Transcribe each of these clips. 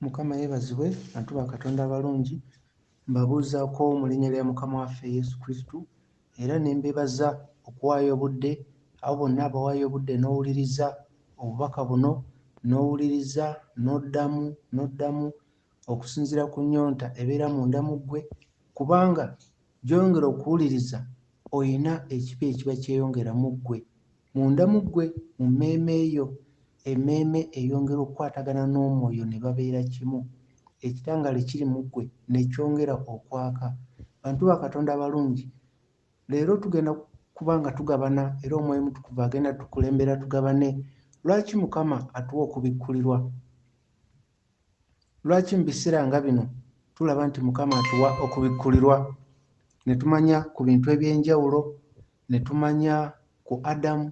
Mukama yebazibwe bantu ba Katonda abalungi, mbabuuzaako mu linnya lya Mukama waffe Yesu Kristo era ne mbebaza okuwaayo obudde, abo bonna abawaayo obudde n'owuliriza obubaka buno, n'owuliriza n'oddamu n'oddamu okusinziira ku nnyonta ebeera munda mu ggwe, kubanga gy'oyongera okuwuliriza olina ekipya ekiba kyeyongera mu ggwe. Munda mu ggwe, mu mmeeme yo, emmeeme eyongera okukwatagana n'Omwoyo ne babeera kimu. Ekitangaala ekiri mu ggwe ne kyongera okwaka. Bantu ba Katonda abalungi, leero tugenda kuba nga tugabana, era Omwoyo Omutukuvu agenda tukulembera tugabane. Lwaki Mukama atuwa okubikkulirwa? Lwaki mubisera nga bino tulaba nti mukama atuwa okubikulirwa netumanya ku bintu ebyenjawulo netumanya ku Adamu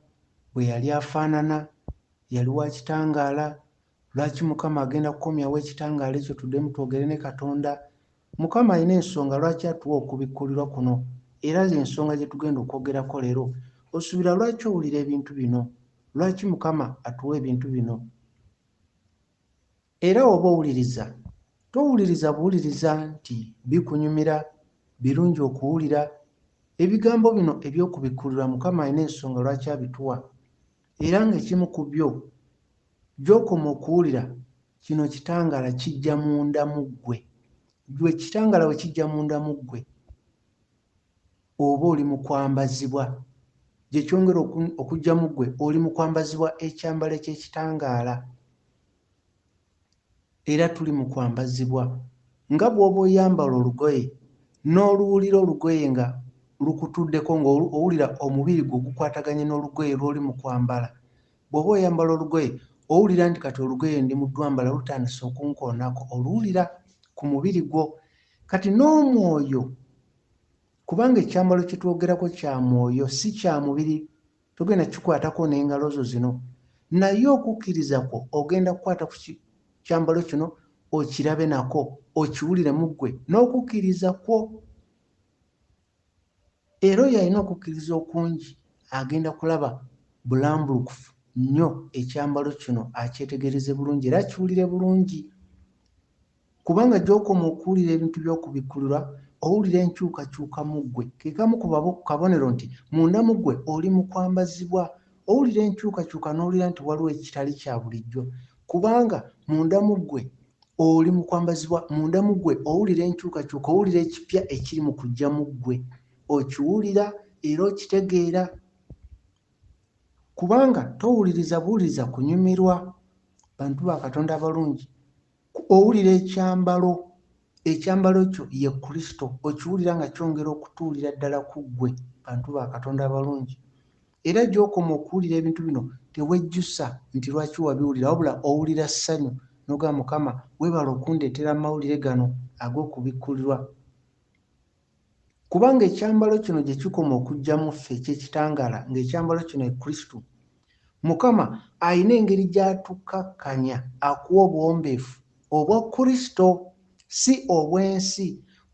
bweyali afanana yali wa kitangaala lwaki mukama agenda kukomyawo ekitangaala ekyo tudemu twogere ne katonda mukama alina ensonga lwaki atuwa okubikulirwa kuno era yensonga gyetugenda okwogerako leero osubira lwaki owulira ebintu bino lwaki mukama atuwa ebintu bino Era woba owuliriza, towuliriza buwuliriza nti bikunyumira, birungi okuwulira. Ebigambo bino eby'okubikkulirwa Mukama alina ensonga lwaki abituwa, era nga ekimu ku byo, gy'okoma okuwulira kino kitangaala kijja munda mu ggwe. Ggwe kitangaala bwe kijja munda mu ggwe, oba oli mu kwambazibwa, gye kyongera okuggyamu ggwe oli mu kwambazibwa ekyambalo eky'ekitangaala. Era tuli mu kwambazibwa. Nga bw'oba oyambala olugoye, n'oluwulira olugoye nga lukutuddeko, nga owulira omubiri gwo gukwataganye n'olugoye lw'oli mu kwambala. Bw'oba oyambala olugoye, owulira nti kati olugoye ndi mu ddwambala lutandise okunkoonako. Oluwulira ku mubiri gwo. Kati n'omwoyo, kubanga ekyambalo kye twogerako kya mwoyo, si kya mubiri, togenda kukikwatako n'engalo zo zino, naye okukkiriza kwo ogenda kukwata ku ki, kyambalo kino, okirabe nako, okiwulire mu ggwe, n'okukkiriza kwo. Era oyo alina okukkiriza okungi agenda kulaba bulambulukufu nnyo ekyambalo kino, akyetegereze bulungi era akiwulire bulungi. Kubanga gy'okoma okuwulira ebintu by'okubikkulirwa, owulira enkyukakyuka mu ggwe. Ke kamu ku babo, ku kabonero nti, munda mu ggwe oli mu kwambazibwa. Owulira enkyukakyuka n'owulira nti waliwo ekitali kya bulijjo. Kubanga, munda mu ggwe, oli mu kwambazibwa. Munda mu ggwe owulira enkyukakyuka, owulira ekipya ekiri mu kujja mu ggwe. Okiwulira era okitegeera. Kubanga, towuliriza buwuliriza kunyumirwa. Bantu ba Katonda abalungi, Owulira ekyambalo, ekyambalo kyo ye Kristo. Okiwulira nga kyongera okutuulira ddala ku ggwe, bantu ba Katonda abalungi? Era gy'okoma okuwulira ebintu bino, tewejjusa nti lwaki wabiwulira, wabula owulira ssanyu, n'ogamba, Mukama, weebale okundeetera amawulire gano ag'okubikkulirwa. Kubanga ekyambalo kino gye kikoma okujja mu ffe eky'ekitangaala, nga ekyambalo kino ye Kristo. Mukama alina engeri gy'atukkakkanya akuwe obuwombeefu obwa Kristo, si obw'ensi,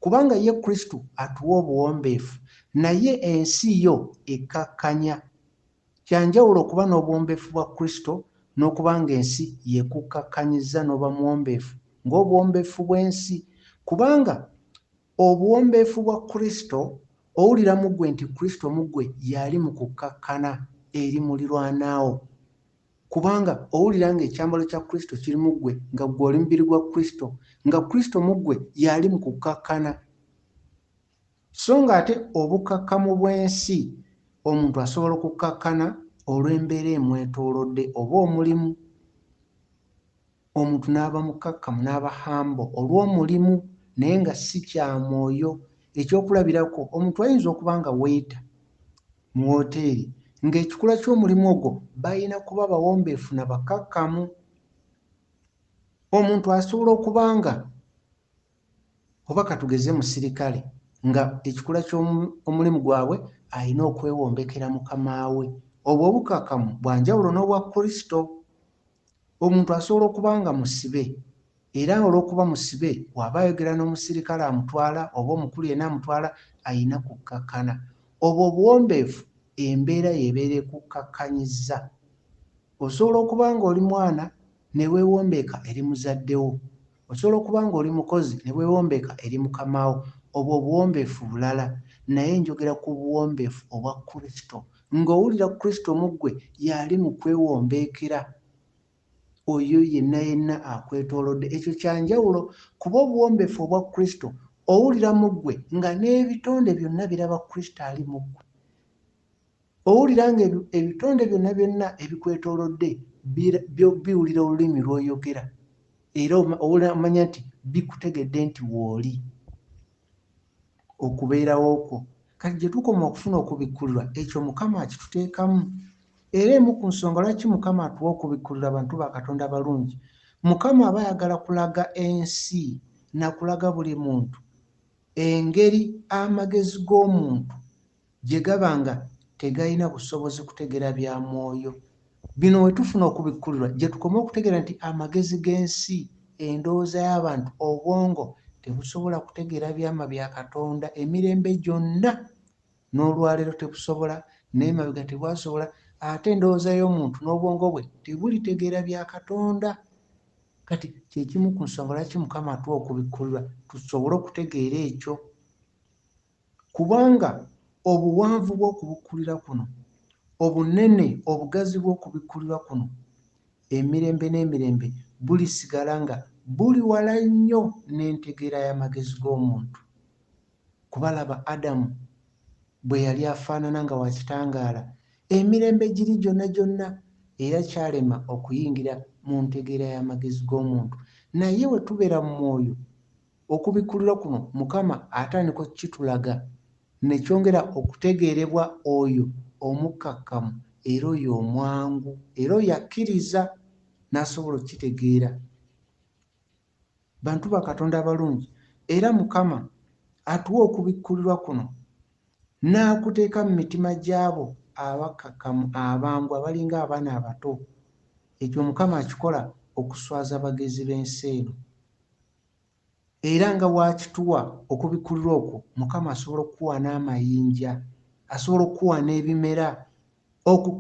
kubanga ye Kristo atuwa obuwombeefu, naye ensi yo ekkakkanya. Kya njawulo okuba n'obuwombeefu bwa Kristo n'okuba ng'ensi y'ekukkakkanyizza n'oba muwombeefu ng'obuwombeefu bw'ensi, kubanga. Obuwombeefu bwa Kristo, Owulira mu ggwe nti Kristo mu ggwe y'ali mu kukkakkana eri mulirwana wo? Kubanga, owulira nga ekyambalo kya Kristo kiri mu ggwe, nga ggwe oli mubiri gwa Kristo, nga Kristo mu ggwe y'ali mu kukkakkana. So nga ate obukkakkamu bw'ensi, omuntu asobola okukkakkana olw'embeera emwetoolodde oba omulimu. Omuntu n'aba mukkakkamu, n'aba humble olw'omulimu naye nga si kya mwoyo. Eky'okulabirako, omuntu ayinza okuba nga waiter mu woteeri nga ekikula ky'omulimu ogwo balina kuba bawombeefu na bakkakkamu. Omuntu asobola okuba nga oba katugeze musirikale nga ekikula ky'omulimu gwabwe alina okwewombekera mukama we. Obwo obukkakkamu bwa njawulo n'obwa Kristo. Omuntu asobola okuba nga musibe era olw'okuba musibe bw'aba ayogera n'omusirikale amutwala oba omukulu yenna amutwala alina kukkakkana. Obwo obuwombeefu embeera y'ebeera ekukkakkanyizza. Osobola okuba ng'oli mwana ne weewombeeka eri muzadde wo Osobola okuba ng'oli mukozi ne weewombeka eri mukama wo. Obwo obuwombeefu bulala. Naye njogera ku buwombeefu obwa Kristo. Ng'owulira Kristo mu ggwe y'ali mu kwewombeekera oyo yenna yenna akwetoolodde. Ekyo kya njawulo, kuba obuwombeefu obwa Kristo owulira mu ggwe nga n'ebitonde byonna biraba Kristo ali mu ggwe. Owulira nga ebitonde byonna byonna ebikwetoolodde biwulira olulimi lw'oyogera era omanya nti bikutegedde nti wooli okubeerawo kwo kati gye tukoma okufuna okubikkulirwa ekyo mukama akituteekamu era emu ku nsonga lwaki mukama atuwa okubikkulirwa abantu ba katonda abalungi mukama aba ayagala kulaga ensi nakulaga buli muntu engeri amagezi g'omuntu gye gaba nga tegalina busobozi kutegera bya mwoyo. Bino we tufuna okubikkulirwa gye tukoma okutegera nti amagezi g'ensi, endowooza y'abantu, obwongo tebusobola kutegera byama bya Katonda emirembe gyonna. N'olwaleero tebusobola, n'emabega tebwasobola, ate endowooza y'omuntu n'obwongo bwe tebulitegeera bya Katonda. Kati kye kimu ku nsonga lwaki Mukama atuwa okubikkulirwa tusobole okutegeera ekyo. Kubanga obuwanvu bw'okubikkulirwa kuno, obunene, obugazi bw'okubikkulirwa kuno, emirembe n'emirembe, bulisigala nga buli wala nnyo n'entegeera y'amagezi g'omuntu. Kuba laba Adamu bwe yali afaanana nga wa kitangaala, emirembe giri gyonna gyonna, era kyalema okuyingira mu ntegeera y'amagezi g'omuntu. Naye bwe tubeera mu Mwoyo, Okubikkulirwa kuno Mukama atandika okukitulaga ne kyongera okutegeerebwa oyo omukkakkamu era oyo omwangu era oyo akkiriza n'asobola okukitegeera. Bantu ba Katonda abalungi, era Mukama atuwa okubikkulirwa kuno n'akuteeka mu mitima gy'abo abakkakkamu abangu abalinga abaana abato. Ekyo Mukama akikola okuswaza abagezi b'ensi eno. Era nga bw'akituwa, okubikkulirwa okwo, Mukama asobola okukuwa n'amayinja, asobola okukuwa n'ebimera. Oku,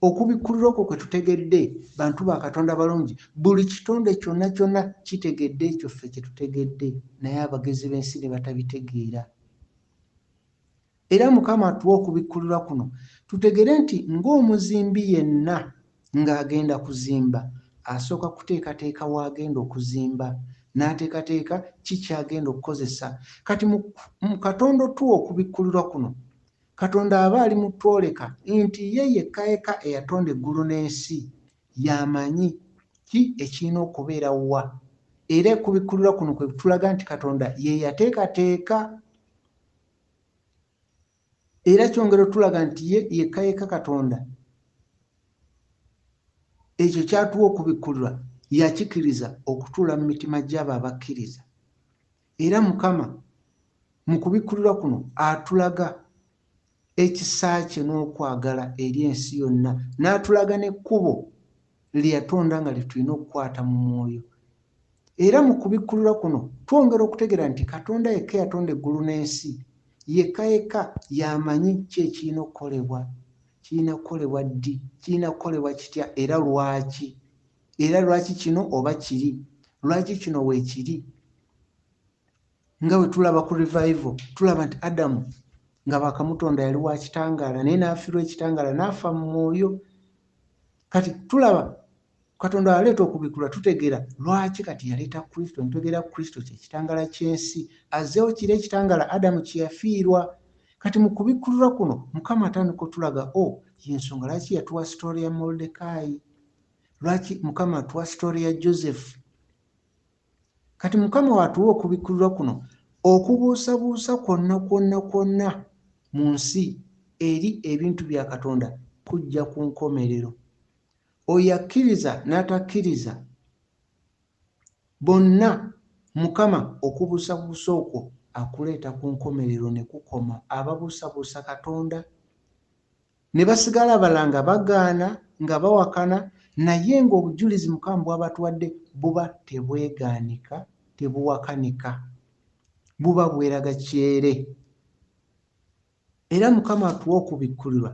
okubikkulirwa okwo kwe tutegedde, bantu ba Katonda abalungi, buli kitonde kyonna kyonna kitegedde ekyo ffe kye tutegedde, naye abagezi b'ensi ne batabitegeera. Era Mukama atuwe okubikkulirwa kuno tutegere nti ng'omuzimbi yenna ng'agenda kuzimba asooka kuteekateeka w'agenda okuzimba n'ateekateeka ki ky'agenda okukozesa kati mu mu Katonda otuwa okubikkulirwa kuno Katonda aba ali mu twoleka nti ye yekka yekka eyatonda eggulu n'ensi y'amanyi ki ekirina okubeera wa era ekubikkulirwa kuno kwe kutulaga nti Katonda ye yateekateeka era kyongera otulaga nti ye yekka yekka katonda ekyo kyatuwa okubikkulirwa yakikiriza okutuula mu mitima gy'abo abakkiriza era mukama mu kubikkulirwa kuno atulaga ekisa kye n'okwagala eri ensi yonna n'atulaga n'ekkubo lye yatonda nga lye tulina okukwata mu mwoyo. Era mu kubikkulirwa kuno twongera okutegeera nti Katonda yekka eyatonda eggulu n'ensi, yekka yekka y'amanyi ki ekirina okukolebwa, kirina kukolebwa ddi, kirina kukolebwa kitya, era lwaki, era lwaki kino oba kiri, lwaki kino weekiri. Nga bwe tulaba ku Revival, tulaba nti Adamu nga baakamutonda yali wa kitangaala, naye n'afiirwa ekitangaala, n'afa mu mwoyo. kati tulaba katonda aleeta okubikula tutegera lwaki kati yaleeta kristo nitwegera kristo kyekitangala kyensi azeewo kiri ekitangala adamu kyeyafiirwa kati mu kubikkulirwa kuno mukama atandika otulaga o oh, yensonga lwaki yatuwa sitore ya moldekaayi lwaki mukama atuwa sitore ya joseph Kati Mukama w'atuwa okubikkulirwa kuno, okubuusabuusa kwonna kwonna kwonna mu nsi eri ebintu bya Katonda kujja ku nkomerero. Oyo akkiriza n'atakkiriza, bonna Mukama okubuusabuusa okwo akuleeta ku nkomerero ne kukoma. Ababuusabuusa Katonda Ne basigala abalala nga bagaana, nga bawakana, naye nga obujulizi Mukama bw'abatuwadde buba tebwegaanika, tebuwakanika. Buba bweraga kyere. Era Mukama atuwa okubikkulirwa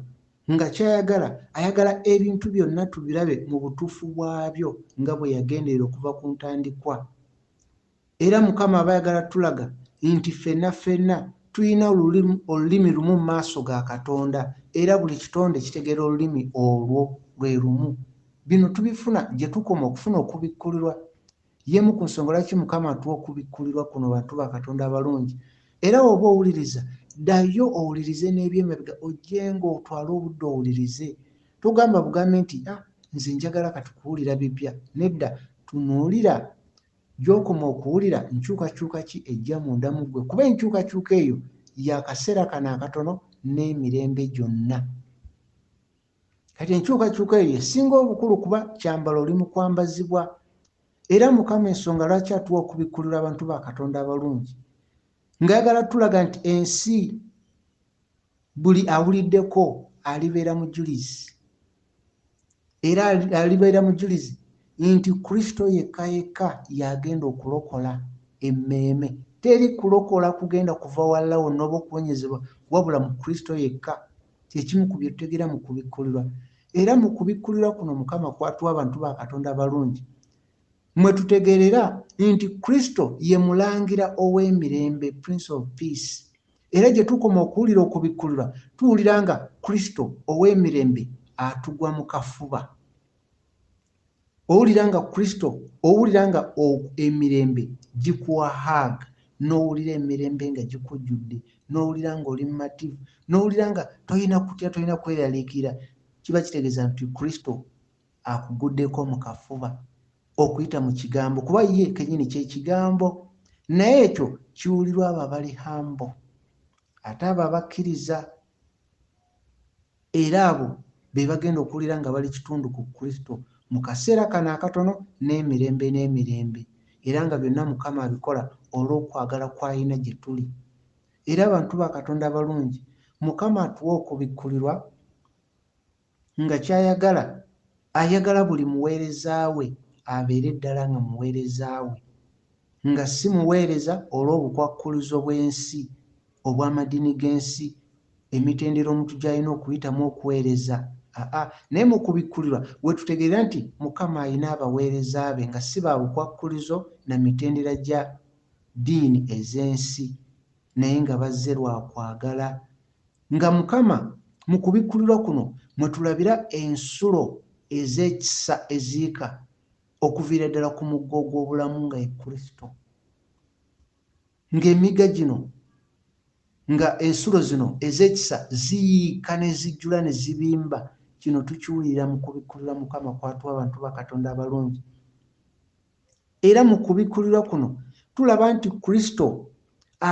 nga ky'ayagala, ayagala ebintu byonna tubirabe mu butuufu bwabyo nga bwe yagenderera okuva ku ntandikwa. Era Mukama aba ayagala tulaga nti ffenna ffenna tulina olulimi lumu mu maaso ga Katonda, era buli kitonde kitegeera olulimi olwo lwe lumu. Bino tubifuna gye tukoma okufuna okubikkulirwa. Y'emu ku nsonga lwaki Mukama atuwa okubikkulirwa kuno, bantu ba Katonda abalungi. Era w'oba owuliriza, ddayo owulirize n'eby'emabega, ojje nga otwale obudde owulirize. Togamba bugambi nti, Ah, nze njagala kati kuwulira bipya. Nedda, tunuulira. Gy'okoma okuwulira nkyukakyuka ki ejja munda mu ggwe, kuba enkyukakyuka eyo ya kaseera kano akatono n'emirembe gyonna. Kati enkyukakyuka eyo y'esinga obukulu kuba kyambalo oli mu kwambazibwa. Era Mukama ensonga lwaki atuwa okubikkulirwa abantu ba Katonda abalungi, ng'ayagala tulaga nti ensi Buli awuliddeko alibeera mujulizi, era alibeera mujulizi nti Kristo yekka yekka y'agenda okulokola emmeeme. Teri kulokola kugenda kuva walala wonna oba okuwonyezebwa wabula mu Kristo yekka. Kye kimu ku bye tutegeera mu kubikkulirwa. Era mu kubikkulirwa kuno Mukama kw'atuwa abantu ba Katonda abalungi mwe tutegeerera nti Kristo ye Mulangira ow'emirembe, Prince of Peace. Era gye tukoma okuwulira okubikkulirwa, tuwulira nga Kristo ow'emirembe atugwa mu kafuba. Owulira nga Kristo, owulira nga o, emirembe gikuwa hug, n'owulira emirembe nga gikujjudde, n'owulira nga oli mumativu, n'owulira nga tolina kutya, tolina kweraliikirira, kiba kitegeeza nti Kristo akugudeko mukafuba okuyita mukigambo kuba ye kenyini kyekigambo naye ekyo kiwulirwa abo abali hambo ate abo abakkiriza era abo bebagenda okuwulira nga bali kitundu ku kristo mukaseera kano akatono n'emirembe n'emirembe era nga byonna mukama abikola olw'okwagala kwayina gyetuli era bantu ba katonda abalungi mukama atuwe okubikkulirwa Nga ky'ayagala, ayagala buli muweereza we abeere ddala nga muweereza we, nga si muweereza olw'obukwakkuluzo bw'ensi, obw'amadini g'ensi, emitendera omuntu gy'alina okuyitamu okuweereza, aa, naye mu kubikkulirwa we tutegeerera nti Mukama alina abaweereza be nga si ba bukwakkulizo na mitendera gya ddiini ez'ensi. naye nga bazze lwa kwagala, nga Mukama mu kubikkulirwa kuno mwe tulabira ensulo ez'ekisa eziika okuviira ddala ku mugga ogw'obulamu nga ye Kristo. Ng'emiga gino, nga ensulo zino ez'ekisa ziyiika ne zijjula ne zibimba, kino tukiwulira mu kubikkulirwa Mukama kw'atuwa abantu ba Katonda abalungi, Era mu kubikkulirwa kuno tulaba nti Kristo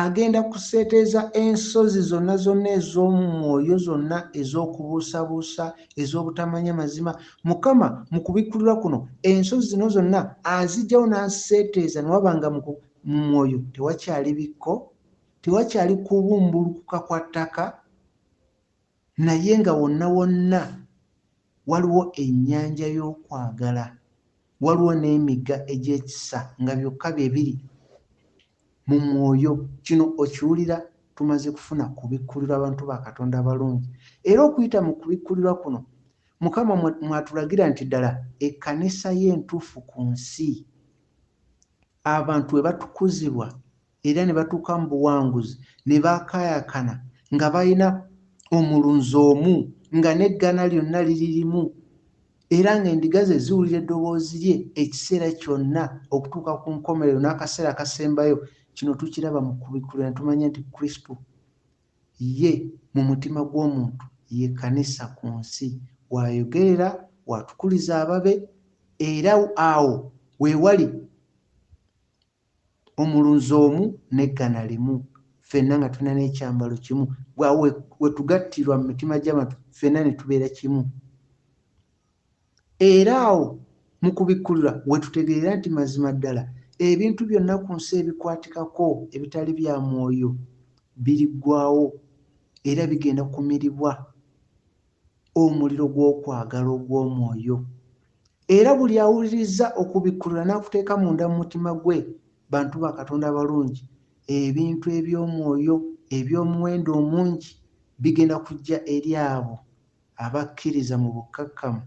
agenda kuseeteeza ensozi zonna zonna ez'omu mwoyo zonna ez'okubuusabuusa, ez'obutamanya mazima. Mukama mu kubikkulirwa kuno ensozi zino zonna aziggyawo n'aziseeteeza ne waba nga mu mu mwoyo tewakyali bikko, tewakyali kubumbulukuka kwa ttaka, Naye nga wonna wonna waliwo ennyanja y'okwagala, waliwo n'emigga egy'ekisa nga byokka bye biri mu mwoyo. Kino okiwulira tumaze kufuna kubikkulirwa abantu ba Katonda abalungi. Era okuyita mu kubikkulirwa kuno, Mukama mw'atulagira nti ddala ekkanisa ye entuufu ku nsi, abantu we batukuzibwa era ne batuuka mu buwanguzi ne baakaayakana nga balina omulunzi omu nga n'eggana lyonna liri limu era ng'endiga ze ziwulira eddoboozi lye ekiseera kyonna okutuuka ku nkomerero n'akaseera akasembayo kino tukiraba mu kubikulira ne tumanya nti kristo ye mu mutima gw'omuntu ye kkanisa ku nsi waayogerera waatukuliza ababe era awo we wali omulunzi omu n'eggana limu, ffenna nga tulina n'ekyambalo kimu, awo we, we tugattirwa mu mitima gy'abantu, ffenna ne tubeera kimu. Era awo mu kubikkulirwa we tutegeerera nti mazima ddala ebintu byonna ku nsi ebikwatikako ebitali bya mwoyo biriggwawo era bigenda kumiribwa. omuliro gw'okwagala ogw'omwoyo. Era buli awuliriza okubikkulirwa n'akuteeka munda mu mutima gwe, bantu ba Katonda abalungi, ebintu eby'omwoyo eby'omuwendo omungi bigenda kujja eri abo abakkiriza mu bukkakkamu.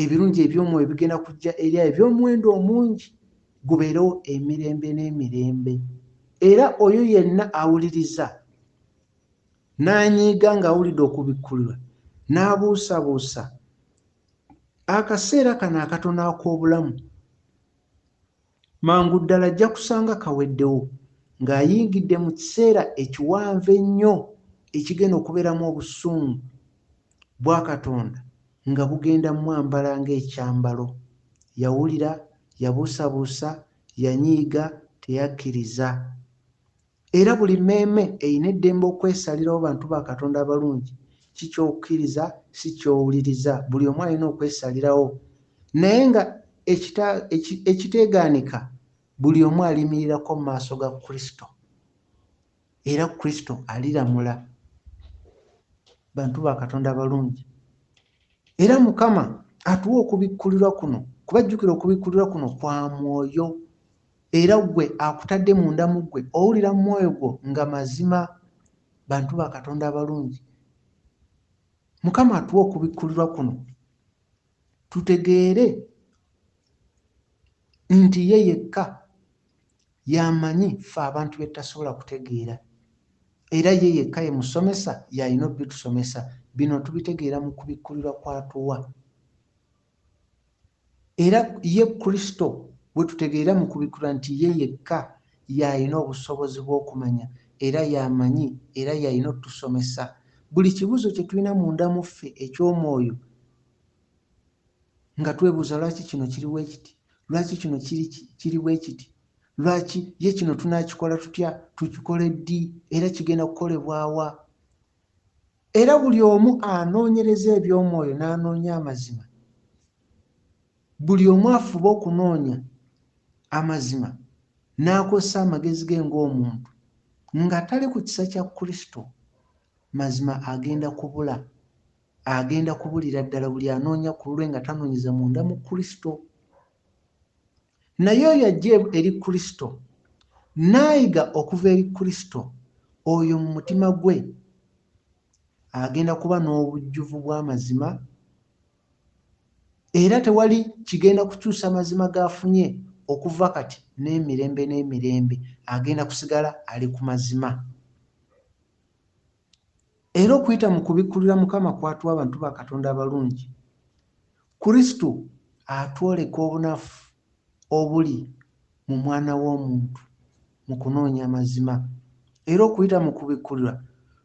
Ebirungi eby'omwoyo bigenda kujja eri abo eby'omuwendo omungi gubeerewo emirembe n'emirembe. Era oyo yenna awuliriza n'anyiiga ng'awulidde okubikkulirwa n'abuusabuusa akaseera kano akatono ak'obulamu, Mangu ddala ajja kusanga kaweddewo ng'ayingidde mu kiseera ekiwanvu ennyo ekigenda okubeeramu obusungu bwa Katonda nga bugenda mwambala ng'ekyambalo. Yawulira, yabuusabuusa, yanyiiga, teyakkiriza. Era buli mmeeme erina eddembe okwesalirawo bantu ba Katonda abalungi ki ky'okkiriza si ky'owuliriza. Buli omu alina okwesalirawo, naye nga ekita, eki, ekiteegaanika, buli omu aliyimirirako mu maaso ga Kristo, era Kristo aliramula bantu ba Katonda abalungi. Era Mukama atuwa okubikkulirwa kuno, kuba jjukira okubikkulirwa kuno kwa mwoyo. Era ggwe akutadde munda mu ggwe, owulira mu mwoyo gwo nga mazima bantu ba Katonda abalungi. Mukama atuwa okubikkulirwa kuno tutegeere nti ye yekka y'amanyi ffe abantu bye tutasobola kutegeera era ye yekka ye musomesa y'alina obitusomesa bino tubitegeera mu kubikkulirwa kw'atuwa Era ye Kristo gwe tutegeera mu kubikkulirwa nti ye yekka y'alina obusobozi bw'okumanya era y'amanyi era y'alina otusomesa buli kibuzo kye tulina munda mu ffe eky'omwoyo nga twebuuza lwaki kino kiri bwe kiti, lwaki kino kiri, kiri bwe kiti, lwaki ye kino tunaakikola tutya, tukikole ddi era kigenda kukolebwa wa? Era buli omu anoonyereza eby'omwoyo n'anoonya amazima. Buli omu afuba okunoonya amazima n'akozesa amagezi ge ng'omuntu, nga tali ku kisa kya Kristo, mazima agenda kubula. Agenda kubulira ddala buli anoonya ku lulwe nga tanoonyeza munda mu Kristo. Naye oyo ajja eri Kristo, n'ayiga okuva eri Kristo, oyo mu mutima gwe agenda kuba n'obujjuvu bw'amazima, era tewali kigenda kukyusa mazima g'afunye okuva kati n'emirembe n'emirembe, agenda kusigala ali ku mazima. Era okuyita mu kubikkulira Mukama kw'atuwa abantu ba Katonda abalungi, Kristo atwoleka obunafu obuli mu mwana w'omuntu mu kunoonya amazima. Era okuyita mu kubikkulirwa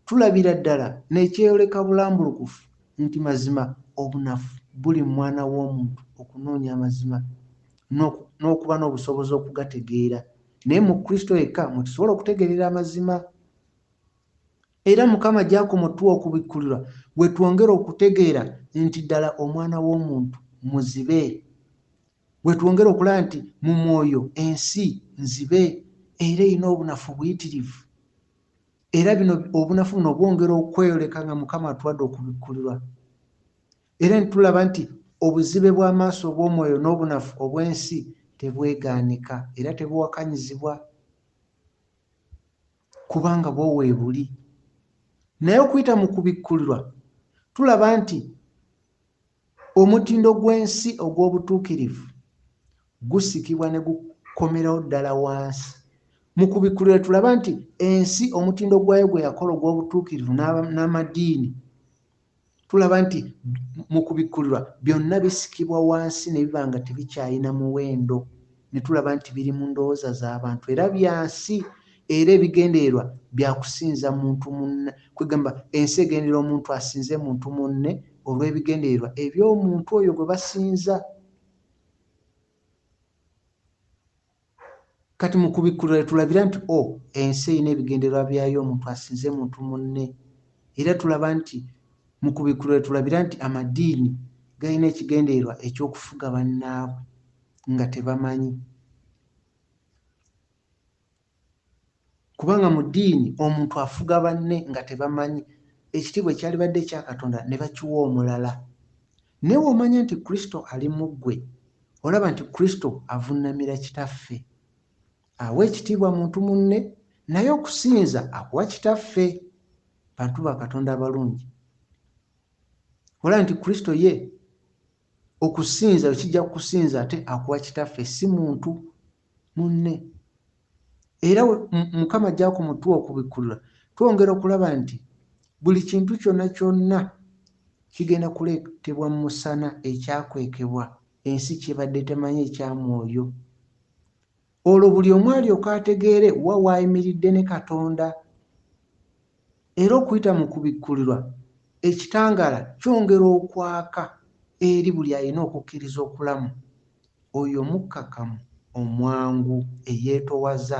tulabira ddala n'ekyeyoleka bulambulukufu nti mazima obunafu buli mu mwana w'omuntu okunoonya amazima n'okuba n'obusobozi okugategeera. Naye mu Kristo yekka mwe tusobola okutegeerera amazima. Era Mukama gy'akoma otuwa okubikkulirwa, we twongera okutegeera nti ddala Omwana w'omuntu muzibe. We twongera okulaba nti mu mwoyo ensi nzibe era erina obunafu buyitirivu. Era bino obunafu buno bwongera okweyoleka nga Mukama atuwadde okubikkulirwa. Era ne tulaba nti obuzibe bw'amaaso obw'omwoyo n'obunafu obw'ensi tebwegaanika era tebuwakanyizibwa. kubanga bwo weebuli naye okuyita mu kubikkulirwa tulaba nti omutindo gw'ensi ogw'obutuukirivu gusikibwa ne gukomerawo ddala wansi mu kubikkulirwa tulaba nti ensi omutindo gwayo gwe yakola ogw'obutuukirivu n'amadiini Tulaba nti mu kubikkulirwa byonna bisikibwa wansi ne biba nga tebikyalina muwendo, ne tulaba nti biri mu ndowooza z'abantu era bya nsi, era ebigendererwa bya kusinza muntu munne, kwegamba ensi egenderera omuntu asinze muntu munne olw'ebigendererwa eby'omuntu oyo gwe basinza. Kati mu kubikkulirwa lye tulabira nti o, ensi erina ebigendererwa byayo omuntu asinze muntu munne. Era tulaba nti, mu kubikkulirwa lye tulabira nti amadiini galina ekigendererwa eky'okufuga bannaabwe nga tebamanyi. Kubanga mu ddiini omuntu afuga banne nga tebamanyi, ekitiibwa ekyalibadde ekya Katonda ne bakiwa omulala. Naye w'omanya nti Kristo ali mu ggwe, olaba nti Kristo avunnamira Kitaffe. Awa ekitiibwa muntu munne, naye okusinza akuwa Kitaffe. Bantu ba Katonda abalungi! Olaba nti Kristo ye Okusinza bwe kijja ku kusinza ate akuwa kitaffe si muntu munne. Era Mukama ajja ku mutuwa okubikkulula. Twongera okulaba nti buli kintu kyonna kyonna kigenda kuleetebwa mu musana ekyakwekebwa ensi ky'ebadde temanyi ekya mwoyo. Olwo buli omu alyoke ategeere wa w'ayimiridde ne Katonda. Era okuyita mu Kubikkulirwa, Ekitangaala kyongera okwaka eri buli alina okukkiriza okulamu, oyo omukkakkamu, omwangu, eyeetowaza.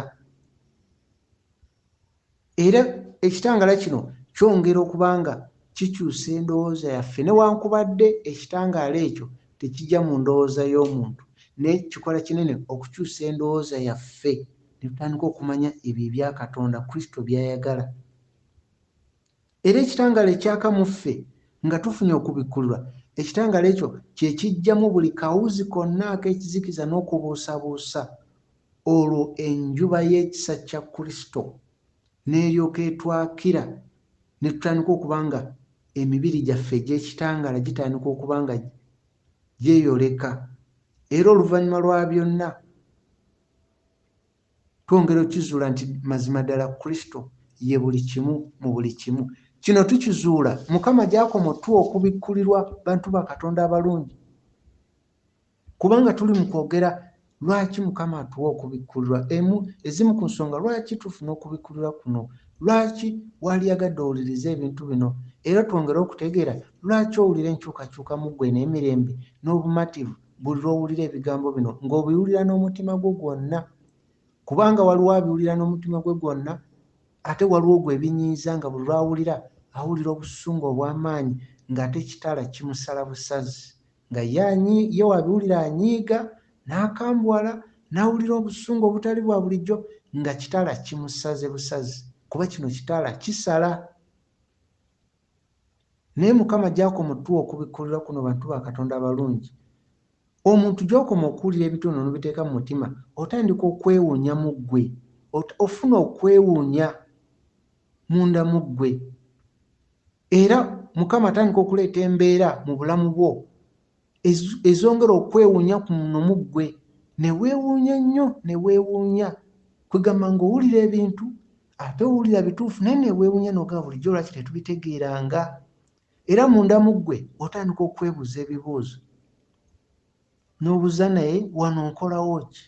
Era ekitangala kino kyongera okuba nga kikyusa endowooza yaffe newankubadde ekitangaala ekyo tekija mu ndowooza y'omuntu naye kikola kinene okukyusa endowooza yaffe ne tutandika okumanya ebyo ebya Katonda, Kristo by'ayagala. Era ekitangaala ekyaka mu ffe, nga tufunye okubikkulirwa, ekitangaala ekyo kye kiggyamu buli kawuzi konna ak'ekizikiza n'okubuusabuusa, olwo enjuba y'ekisa kya Kristo n'eryoka etwakira, ne tutandika okuba nga emibiri gyaffe egy'ekitangaala gitandika okuba nga gyeyoleka, era oluvannyuma lwa byonna, Twongera okukizuula nti mazima ddala Kristo ye buli kimu mu buli kimu. Kino tukizuula Mukama gy'akoma otuwa okubikkulirwa bantu ba Katonda abalungi. Kubanga tuli mu kwogera lwaki Mukama atuwa okubikkulirwa, emu ezimu ku nsonga lwaki tufuna okubikkulirwa kuno, lwaki waliyagadde owulirize ebintu bino, era twongere okutegeera lwaki owulira enkyukakyuka mu ggwe n'emirembe n'obumativu buli lw'owulira ebigambo bino ng'obiwulira n'omutima gwo gwonna kubanga waliwo abiwulira n'omutima gwe gwonna ate waliwo gwe ebinyiiza nga buli lwawulira awulira obusungu obw'amaanyi ng'ate ekitala kimusala busazi nga ye wabiwulira anyiiga n'akambuwala n'awulira obusungu obutali bwa bulijjo nga kitala kimusaze busazi kuba kino kitala kisala Naye mukama gyakoma otuwa okubikulirwa kuno bantu ba katonda abalungi omuntu gyokoma okuwulira ebitono nobiteeka mu mutima otandika okwewunya mu gwe ofuna okwewunya munda mu gwe era mukama atandika okuleeta embeera mu bulamu bwo ezongera okwewunya ku muno mu ggwe ne weewuunya ennyo ne weewuunya kwegamba ng'owulira ebintu ate owulira bituufu naye neweewunya nogaa bulijjo lwaki tetubitegeeranga era munda mu ggwe otandika okwebuuza ebibuuzo n'obuuza naye wano nkolawo ki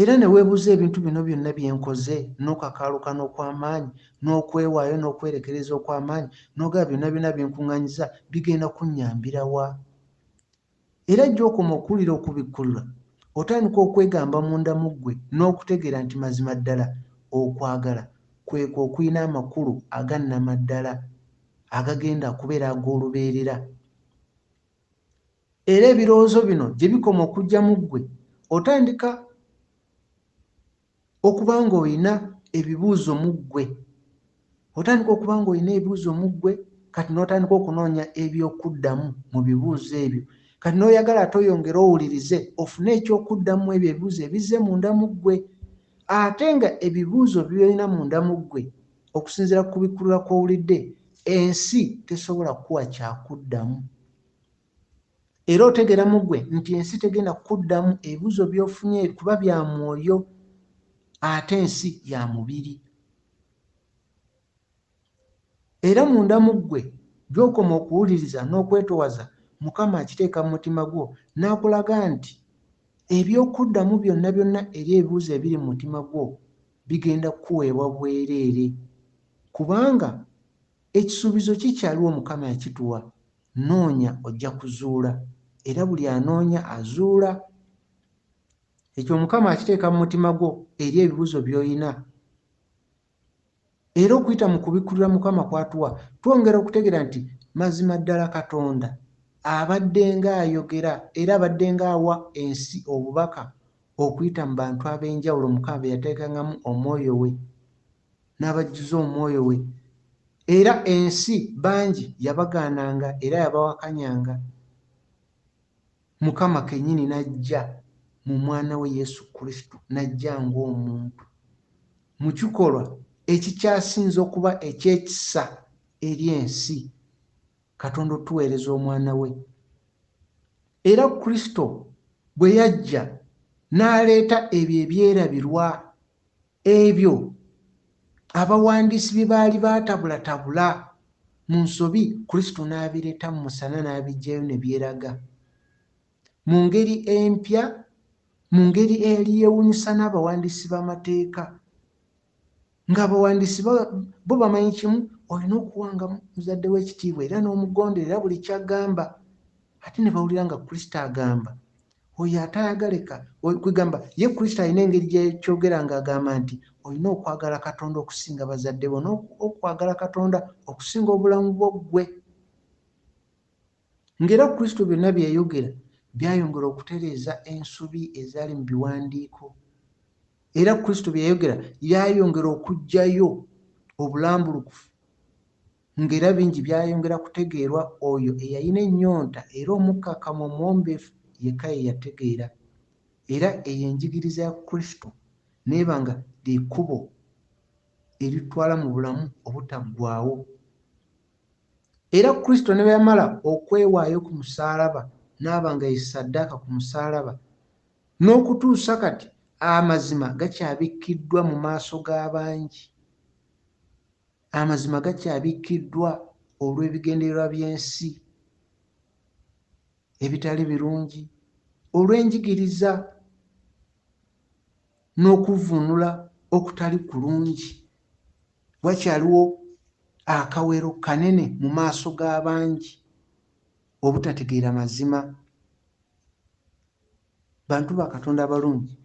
Era ne weebuuza ebintu bino byonna bye nkoze, n'okakaalukana okw'amaanyi, n'okwewaayo n'okwerekereza okw'amaanyi, n'ogamba, Byonna byonna bye nkuŋŋanyiza bigenda kunnyambira wa? Era gy'okoma okuwulira Okubikkulirwa, otandika okwegamba munda mu ggwe n'okutegeera nti mazima ddala okwagala kwe kwo okulina amakulu aga nnamaddala, agagenda okubeera ag'olubeerera. era ebirowoozo bino gye bikoma okujja mu ggwe otandika okuba ng'olina ebibuuzo mu ggwe otandika okuba ng'olina ebibuuzo mu ggwe kati n'otandika okunoonya eby'okuddamu mu bibuuzo ebyo kati n'oyagala ate oyongere owulirize ofune eky'okuddamu ebyo ebibuuzo ebizze munda mu ggwe ate nga ebibuuzo byolina munda mu ggwe Okusinziira ku kubikkulula kw'owulidde, ensi tesobola kukuwa kyakuddamu. Era otegera mugwe nti ensi tegenda kukuddamu ebibuzo byofunye kuba bya mwoyo ate ensi ya mubiri. Era munda mugwe gyokoma okuwuliriza n'okwetowaza mukama akiteeka mu mutima gwo n'akulaga nti ebyokuddamu byonna byonna eri ebibuzo ebiri mu mutima gwo bigenda kukuweebwa bwereere kubanga ekisuubizo kikyaliwo Mukama yakituwa, noonya ojja kuzuula era buli anoonya azuula. Ekyo Mukama akiteeka mu mutima gwo eri ebibuzo by'olina era okuyita mu kubikkulira Mukama kwatuwa twongera okutegeera nti mazima ddala Katonda abaddenga ayogera era abaddenga awa ensi obubaka Okuyita mu bantu ab'enjawulo Mukama be yateekangamu omwoyo we n'abajjuza omwoyo we, era ensi bangi yabagaananga era yabawakanyanga, Mukama kennyini n'ajja mu Mwana we Yesu Kristo, n'ajja ng'omuntu, mu kikolwa ekikyasinze okuba eky'ekisa eri ensi, Katonda otuweereza Omwana we. Era Kristo bwe yajja n'aleeta ebyo ebyerabirwa, ebyo abawandiisi bye baali baatabulatabula mu nsobi, Kristo n'abireeta mu musana n'abiggyayo ne byeraga mu ngeri empya, mu ngeri eyali yeewuunyisa n'abawandiisi b'amateeka. Nga abawandiisi bo bamanyi kimu, olina okuwanga muzadde wo ekitiibwa era n'omugonderera buli ky'agamba. Ate ne bawulira nga Kristo agamba, Oyo ataayagaleka, kwegamba, ye Kristo alina engeri gye kyogera nga agamba nti, Olina okwagala Katonda okusinga bazadde bo n'okwagala Katonda okusinga obulamu bwo ggwe. Ng'era Kristo byonna bye yayogera byayongera okutereeza ensobi ezaali mu biwandiiko, era Kristo bye yayogera byayongera okuggyayo obulambulukufu, ng'era bingi byayongera kutegeerwa oyo eyalina ennyonta era omukkakkamu omuwombeefu yekka ye yategeera. Era eyo enjigiriza ya Kristo n'eba nga lye kkubo eritutwala mu bulamu obutaggwaawo. Era Kristo ne bwe yamala okwewaayo ku musaalaba n'aba nga ye ssaddaaka ku musaalaba, n'okutuusa kati amazima gakyabikkiddwa mu maaso ga bangi. Amazima gakyabikkiddwa olw'ebigendererwa by'ensi ebitali birungi, olw'enjigiriza n'okuvvuunula okutali kulungi, wakyaliwo akawero kanene mu maaso ga bangi obutategeera mazima. Bantu ba Katonda abalungi,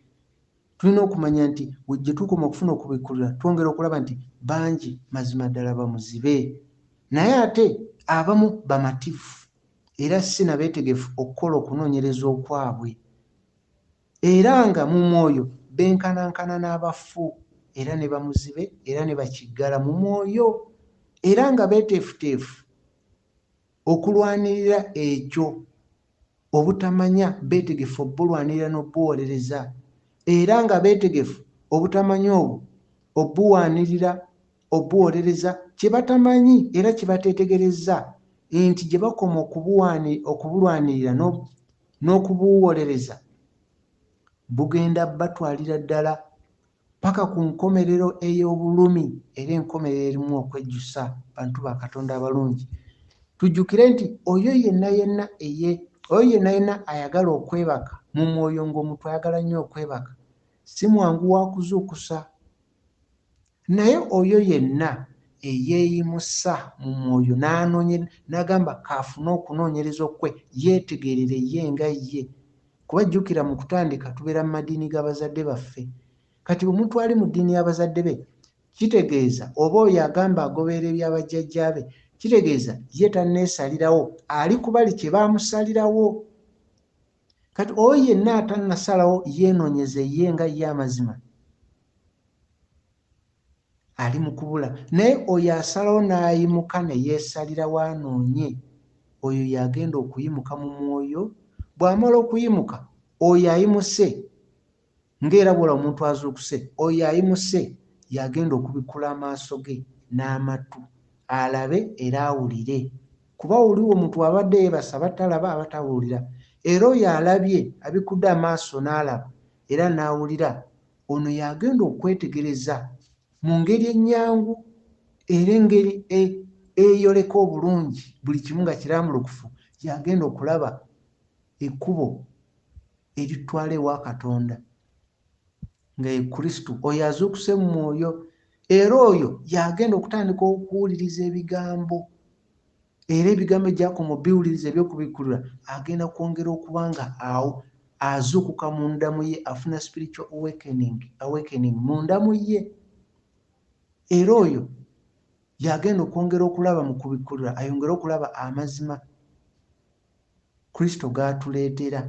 tulina okumanya nti gye tukoma okufuna okubikkulira twongera okulaba nti bangi mazima ddala bamuzibe, naye ate abamu bamativu era si na beetegefu okukola okunoonyereza okwabwe. Era nga mu mwoyo benkanankana n'abafu, era ne bamuzibe, era ne bakiggala mu mwoyo, era nga beeteefuteefu okulwanirira ekyo, obutamanya, beetegefu obbulwanirira n'obbuwolereza, era nga beetegefu obutamanya obwo obbuwanirira obuwolereza kye batamanyi era kye bateetegerezza nti gye bakoma okubulwanirira n'okubuwolereza bugenda batwalira ddala paka ku nkomerero ey'obulumi era enkomerero erimu okwejjusa bantu ba Katonda abalungi. Tujjukire nti oyo yenna yenna eye oyo yenna yenna ayagala okwebaka mu mwoyo ng'omuntu ayagala nnyo okwebaka si mwangu wa kuzuukusa Naye oyo yenna eyeeyimusa mu mwoyo n'anonye, n'agamba k'afune okunoonyereza okukwe, yeetegeerere ye nga ye. Kuba jjukira mu kutandika tubeera mu madiini ga bazadde baffe. Kati omuntu ali mu ddiini ya bazadde be, kitegeeza, oba oyo agamba agoberera ebya bajjajjaabe, kitegeeza ye tanneesalirawo, ali ku bali kye baamusalirawo. kati oyo yenna atannasalawo yeenonyeze ye nga ye amazima ali mu kubula naye oyo asalawo n'ayimuka ne yeesalira waanoonye oyo y'agenda okuyimuka mu mwoyo bw'amala okuyimuka oyo ayimuse Nga era bw'olaba omuntu azuukuse, oyo ayimuse y'agenda okubikkula amaaso ge n'amattu, alabe era awulire. Kuba wuliwo omuntu abadde yeebase aba talaba, aba tawulira. Era oyo alabye, abikkudde amaaso n'alaba era n'awulira, ono y'agenda okwetegereza mu ngeri ennyangu era engeri eyoleka obulungi buli kimu nga kirambulukufu, y'agenda okulaba ekkubo. eritutwala ewa katonda nga ye kristo oyo azuukuse mu mwoyo era oyo yagenda okutandika okuwuliriza ebigambo era ebigambo egyakoma obiwuliriza ebyokubikkulira agenda kwongera okuba nga awo azuukuka mu ndamu ye afuna spiritual awakening, awakening mu ndamu ye era oyo yagenda okwongera okulaba mu kubikkulira ayongere okulaba amazima Kristo g'atuleetera.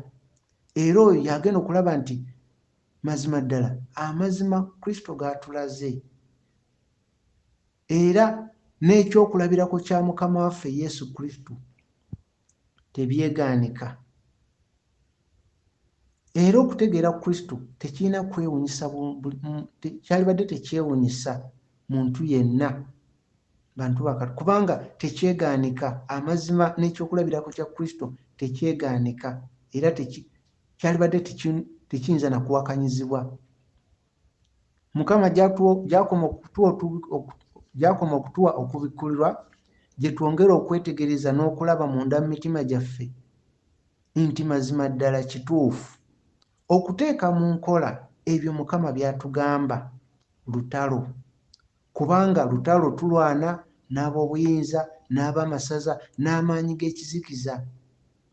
Era oyo y'agenda okulaba nti mazima ddala amazima Kristo g'atulaze. Era n'ekyokulabirako kya Mukama waffe Yesu Kristo tebyegaanika. Era okutegeera Kristo tekirina kwewunyisa bu, bu, te, kyalibadde tekyewunyisa muntu yenna, bantu ba Katonda, kubanga tekyegaanika. Amazima n'ekyokulabirako kya Kristo tekyegaanika, era teki, kyalibadde teki, tekiyinza na kuwakanyizibwa. Mukama gy'akoma okutuwa, gy'akoma okutuwa okubikkulirwa, gye twongera okwetegereza n'okulaba munda mu mitima gyaffe, Nti mazima ddala kituufu. Okuteeka mu nkola ebyo Mukama by'atugamba lutalo. Kubanga lutalo tulwana n'ab'obuyinza, n'ab'amasaza, n'amaanyi g'ekizikiza.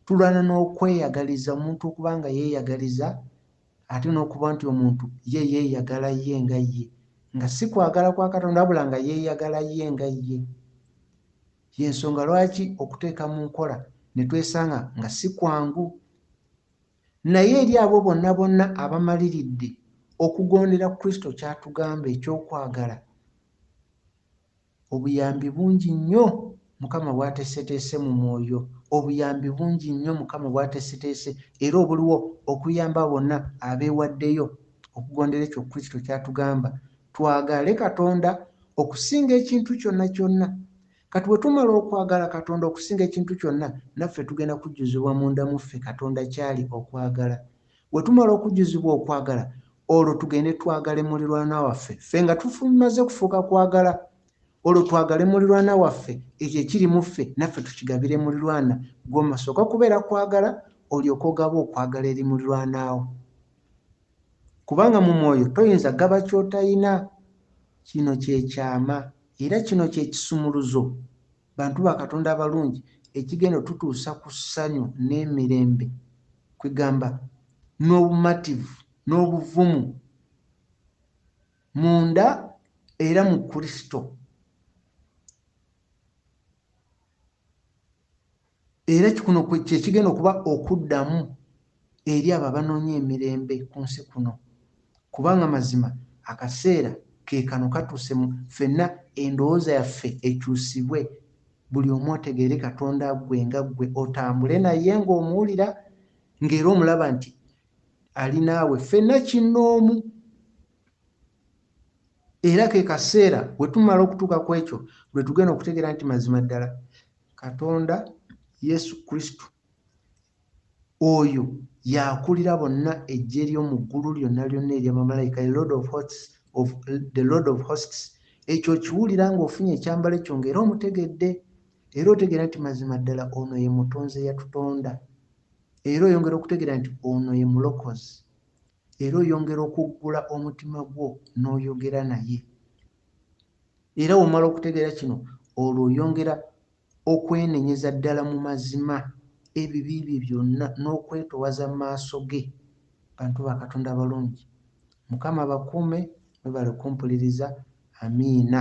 Tulwana n'okweyagaliza, omuntu okuba nga yeeyagaliza, ate n'okuba nti omuntu ye yeeyagala ye nga ye, nga si kwagala kwa Katonda wabula nga yeeyagala ye nga ye. Y'ensonga lwaki okuteeka mu nkola ne twesanga nga si kwangu. Naye eri abo bonna bonna abamaliridde okugondera Kristo ky'atugamba eky'okwagala, obuyambi bungi nnyo Mukama bw'ateeseteese mu mwoyo, obuyambi bungi nnyo Mukama bw'ateeseteese era obuliwo okuyamba abo bonna abeewaddeyo okugondera ekyo Kristo ky'atugamba, twagale Katonda Okusinga ekintu kyonna kyonna. Kati bwe tumala okwagala Katonda okusinga ekintu kyonna, naffe tugenda kujjuzibwa munda mu ffe Katonda ky'ali, okwagala. Bwe tumala okujjuzibwa okwagala, olwo tugende twagale mulirwana waffe, ffe nga tumaze kufuuka kwagala. Olwo twagale mulirwana waffe, ekyo ekiri mu ffe naffe tukigabire mulirwana. Ggwe osooka kubeera kwagala, olyoke ogabe okwagala eri mulirwana wo. Kubanga mu mwoyo toyinza gaba ky'otayina. Kino kye kyama era kino kye kisumuluzo, bantu ba Katonda abalungi, ekigenda otutuusa ku ssanyu n'emirembe, kwegamba, n'obumativu n'obuvumu munda era mu Kristo. Era kuno kye kigenda okuba okuddamu eri abo abanoonya emirembe ku nsi kuno, kubanga mazima akaseera ke kano katuuse mu, ffenna endowooza yaffe ekyusibwe, buli omu otegeere Katonda ggwe nga ggwe, otambule Naye nga omuwulira, nga era omulaba nti Ali naawe, ffenna kinnoomu. Era ke kaseera, bwe tumala okutuuka ku ekyo, lwe tugenda okutegeera nti mazima ddala katonda yesu kristo oyo yakulira bonna ejje lyomu ggulu lyonna lyonna erya bamalayika the lord of hosts ekyo okiwulira nga ofunye ekyambalo ekyo ngaera omutegedde era otegeera nti mazima ddala ono ye mutonzi eyatutonda era oyongera okutegeera nti ono ye mulokozi era oyongera okuggula omutima gwo n'oyogera naye era womala okutegeera kino olwo oyongera okwenenyeza ddala mu mazima ebibi bye byonna n'okwetowaza mu maaso ge bantu ba katonda abalungi mukama abakuume mwebale kumpuliriza amiina